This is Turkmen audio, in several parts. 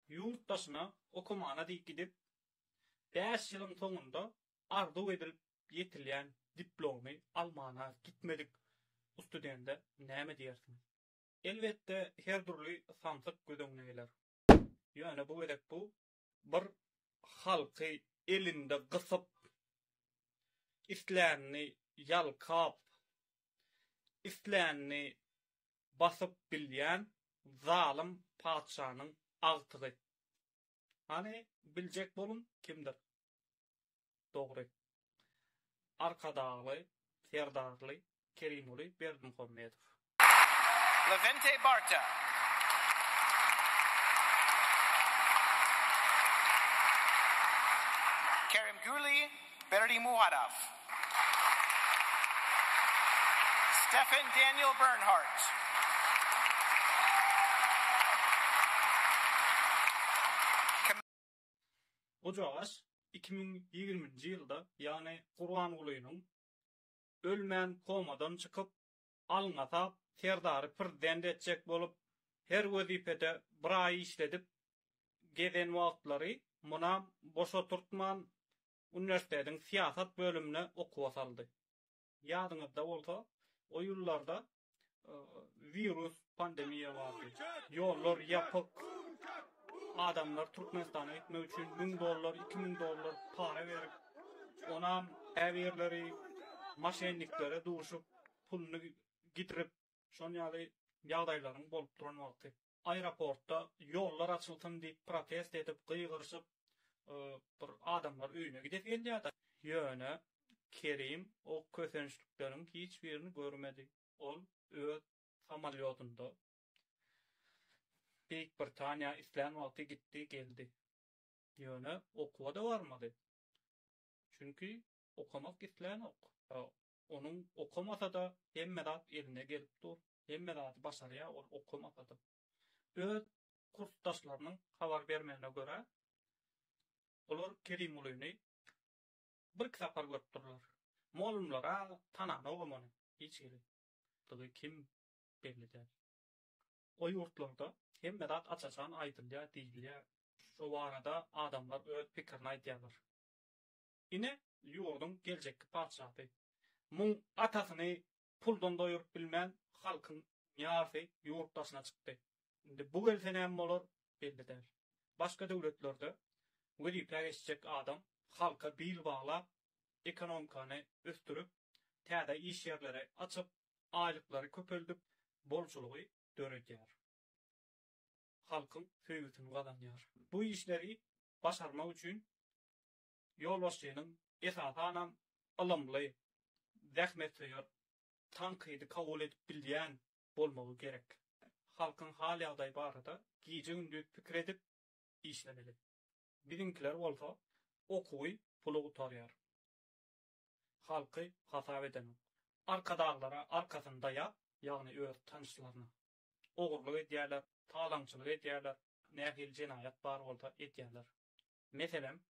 Ýurt daşyna okamana diýip gidip, bäş ýylyň soňunda arzuw edilip ýetilýän diplomy almana gitmedik ustudende näme diýersiň? Elbetde, her dürli samsyk göz öňüne geler. Ýöne bu gezek bu bir halky elinde gysyp, islänini ýalkap, islänini basyp bilýän zalym patyşanyň agtygy. Hany, biljek boluň, kimdir? Dogry. Arkadagly, Serdarly Kerimoly Berdimuhammedow. Lewentey Barta. Kerimguly Berdimuhadow, Stefan Daniel Bernhardt, Km. Gujagaş iki müň ýigrimi nji ýylda, ýagny Gurbangulynyň ölmän komadan çykyp, Alňasap Serdary prezident etjek bolup, her wezipede bir aý işledip gezen wagtlary munam boş oturtman, uniwersitetiň syýasat bölümine okuwa saldy. Ýadyňyzda bolsa, o ýyllarda wirus Pandemiýa bardy. Ýollar ýapyk. Adamlar Türkmenistana gitmek üçin müň dollar, iki müň dollar para berip, onam käbirleri moşenniklere duşup, puluny gidirip, şon ýaly ýagdaýlaryň bolup duran wagty. Aeroportda ýollar açylsyn diýip protest edip, gygyryşyp, bir adamlar öýüne gidesi gelýärdi. Ýöne Kerim o kösençlikleriň hiç birini görmedi. Ol öz samolýotynda Beýik Britaniýa islän wagty gitdi, geldi. Ýöne okuwa-da barmady. Çünki okamak islänok. Onuň okamasa-da hemme zat eline gelip dur. Hemme zady başarýar ol okamasa-da. Öz kursdaşlarynyň habar bermegine görä, olar Kerimgulyny birki sapar görüp durlar. Mugallymlar-a tananok hem ony hiç hili. ýaşaýandygy kim belli däl. O ýurtlarda hemme zat aç-açan aýdylýar, diýilýär. Şo barada adamlar öz pikirini aýdýarlar. Ine, ýurduň geljekki patyşasy. Muň atasyny puldan doýuryp bilmän, halkyň ýarsy ýurt daşyna çykdy. Indi bu gelse näme bolar, belli däl. Başga döwletlerde wezipä geçjek adam halka bil baglap, ekonomikany ösdürip, täze iş ýerleri açyp, aýlyklary köpeldip, bolçulygy döredýär. Halkyň söýgüsini gazanýar. Bu işleri başarmak üçin ýolbaşçynyň esasanam ylymly, zähmetsöýer, tankydy kabul edip bilýän bolmagy gerek. Halkyň hal-ýagdaýy barada gije-gündiz pikir edip işlemeli. Biziňkiler bolsa okuwy pula gutarýar. Halky hasap edenok. Arkadaglara arkasyny daýap, ýagny öz tanyşlaryna. Ogurlyk edýärler, talaňçylyk edýärler, nähili jenaýat bar bolsa edýärler. Meselem,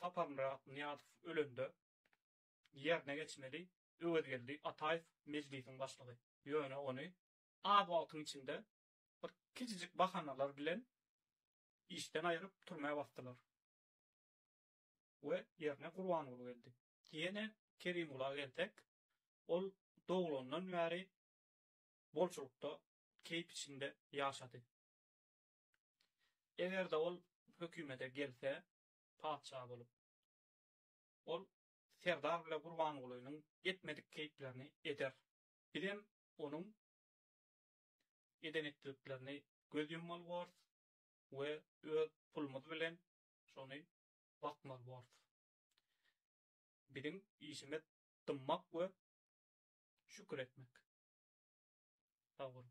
Saparmyrat Nyýazow ölende ýerine geçmeli Öwezgeldi Ataýew Mejlisiň başlygy. Ýöne ony az wagtyň içinde bir kiçijik bahanalar bilen Işden aýryp, türmä basdylar. We ýerine Gurbanguly geldi. Ýene Kerimgula gelsek, ol doglandan bäri bolçulykda, keýp içinde ýaşady. Eger-de ol hökümete gelse, patyşa bolup, ol Serdar bile Gurbangulynyň etmedik keýplerini eder. Bizem onuň eden-etdidiklerini göz ýummaly borus we öz pulumyz bilen şony bakmaly borus. Biziň işimiz dymmak we şükür etmek. Sag boluň.